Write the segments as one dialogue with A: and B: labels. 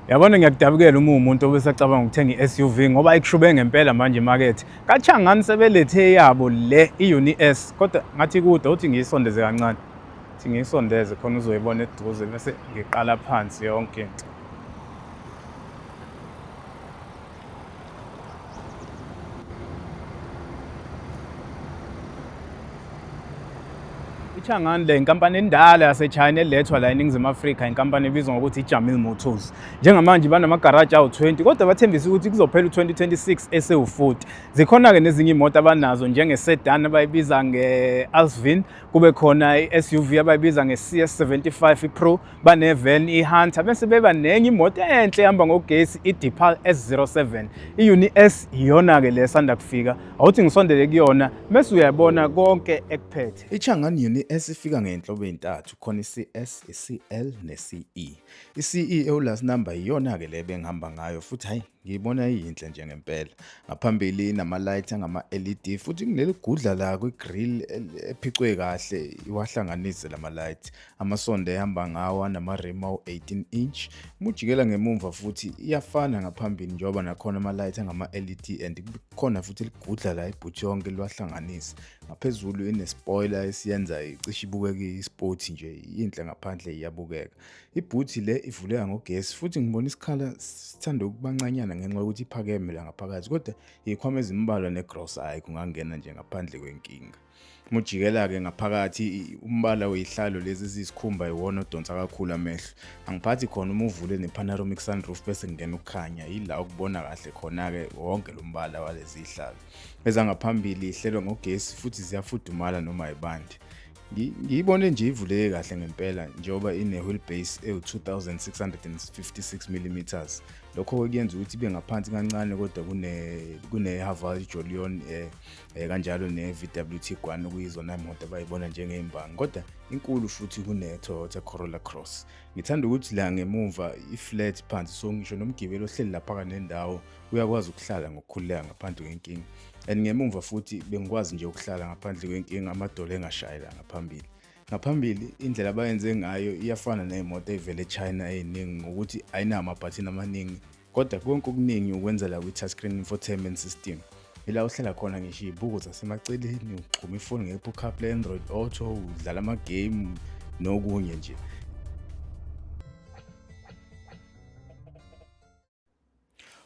A: Yabona ngiyakudabukela uma umuntu obesacabanga ukuthenga i-SUV ngoba ikushube ngempela manje imakethe. Kachangani sebelethe yabo le i-Uni S kodwa ngathi kude uthi ngiyisondeze kancane. Thi ngiyisondeze khona uzoyibona eduze bese ngiqala phansi yonke into. iChang'an le inkampani endala yaseChina elethwa la eNingizimu Afrika inkampani ebizwa ngokuthi iJamil Motors njengamanje banamagaraji awu-20 kodwa bathembise ukuthi kuzophela u-2026 esewufuthi zikhona-ke nezinye imoto abanazo njengesedan abayibiza nge-alsvin kube khona i-suv abayibiza nge-cs 75 ipro baneven ihunter bese beba nenye imoto enhle ehamba ngogesi idipal s07 iyuni s iyona-ke le sanda kufika awuthi ngisondele kuyona bese uyabona konke ekuphethe ichangani yuni s
B: ifika ngey'nhlobo ey'ntathu khona i-cs i-cl ne-ce i-ce ewulast number iyona-ke le bengihamba ngayo futhi hhayi Ngiyibona iyinhle nje ngempela. Ngaphambili inama-light angama-LED futhi kuleli gudla la kwi-grill ephicwe kahle iwahlanganise la ma-light. Amasondo ehamba ngawo anama-rim awu-18 inch. Uma ujikela ngemumva futhi iyafana ngaphambili njengoba nakhona ama-light angama-LED and kukhona futhi ligudla la ibhuthi yonke liwahlanganise. Ngaphezulu ine-spoiler esiyenza icishe ibukeke i-sport nje, yinhle ngaphandle iyabukeka. Ibhuthi le ivuleka ngogesi futhi ngibona isikhala sithanda ukubancanyana ngenxa yokuthi iphakeme la ngaphakathi kodwa ikhwama ezimbalwa negrosa hhayi kungangena nje ngaphandle kwenkinga. Uma ujikela-ke ngaphakathi umbala weyihlalo lezi eziyisikhumba iwona odonsa kakhulu amehlo. Angiphathi khona uma uvule ne-panoramic sunroof bese kungena ukukhanya yila ukubona kahle khona-ke wonke lo mbala walezi yihlalo. Ezangaphambili ihlelwa ngogesi futhi ziyafudumala noma yibandi. Ngiyibone nje ivuleke kahle ngempela njengoba ine-wheel base ewu-2656 mm. Lokho-ke kuyenza ukuthi ibe ngaphansi kancane kodwa kune-Haval Jolion um eh, eh, kanjalo ne-VWT Guan okuyizona imoto abayibona njengey'mbangi kodwa inkulu futhi kune-Toyota Corolla Cross. Ngithanda ukuthi la ngemuva i-flat phansi so ngisho nomgibeli ohleli laphaka nendawo uyakwazi ukuhlala ngokukhululeka ngaphandle kwenkinga and ngemumva futhi bengikwazi nje ukuhlala ngaphandle kwenkinga amadolo engashayelanga phambili ngaphambili indlela abayenze ngayo iyafana ney'moto ey'vele echina ey'ningi ngokuthi ayinawo amabhathini amaningi kodwa konke okuningi ukwenzela kwi-touchscreen infotainment system ila uhlala khona ngisho iy'buko zasemaceleni uxhuma ifoni nge-apple carplay android auto udlala amagame nokunye nje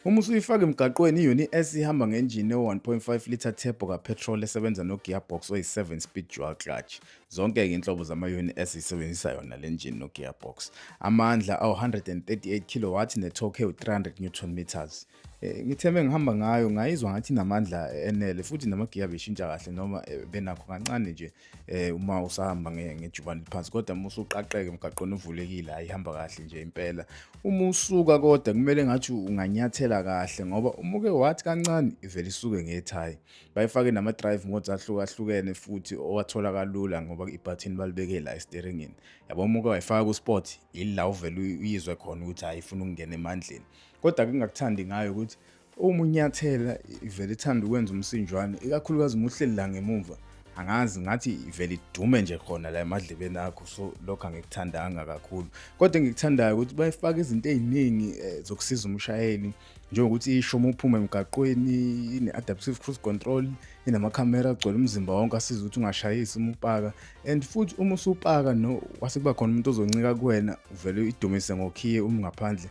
B: Uma usuyifaka emgaqweni iyona i-S ihamba ngenjini ewu-1.5 litre turbo kapetrol esebenza no-gearbox oyi-7 speed dual clutch. Zonke-ke inhlobo zama-yoni S isebenzisa yona le njini no-gearbox. Amandla awu-138 kW ne-torque ewu-300 newton meters. Eh, ngithe mengihamba ngayo ngayizwa ngathi inamandla enele futhi namagiya beshintsha kahle noma eh, benakho kancane nje eh uma usahamba ngejubane liphansi kodwa uma usuqaqeke emgaqweni uvulekile ayihamba kahle nje impela uma usuka kodwa kumele ngathi unganyathela kahle ngoba uma uke wathi kancane ivele isuke ngethayi bayifake nama drive modes ahlukahlukene futhi owathola kalula ngoba ibhathini balibeke la esteeringini yabo uma uke wayifaka ku sport ila uvele uyizwe khona ukuthi ayifuna ukungena emandleni kodwa kungakuthandi ngayo ukuthi Uma unyathela ivele ithanda ukwenza umsinjwane ikakhulukazi uma uhleli la ngemumva angazi ngathi ivele idume nje khona la emadlebeni akho so lokho angikuthandanga kakhulu kodwa engikuthandayo ukuthi bayifaka izinto eziningi eh, zokusiza umshayeli njengokuthi isho uma uphuma emgaqweni ine-adaptive cruise control inamakhamera agcwele umzimba wonke asiza ukuthi ungashayisi uma upaka and futhi uma usupaka no wase kuba khona umuntu ozoncika kuwena uvele idumise ngokhiye uma ungaphandle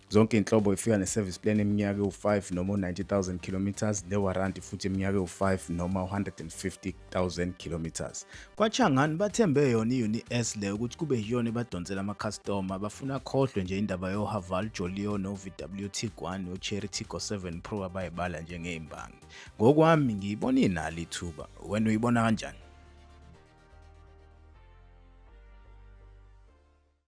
B: Zonke inhlobo ifika ne-service plan eminyaka ewu-5 noma u-90,000 kilometers newaranti futhi eminyaka ewu-5 noma u-150,000 kilometers. KwaChangani bathembe yona i-UNIS le ukuthi kube yiyona ebadonsela amakhastoma bafuna khohlwe nje indaba yoHaval Jolio no-VW Tiguan no-Chery Tiggo 7 Pro abayibala njengey'mbangi. Ngokwami ngiyibona inalo ithuba. Wena uyibona kanjani?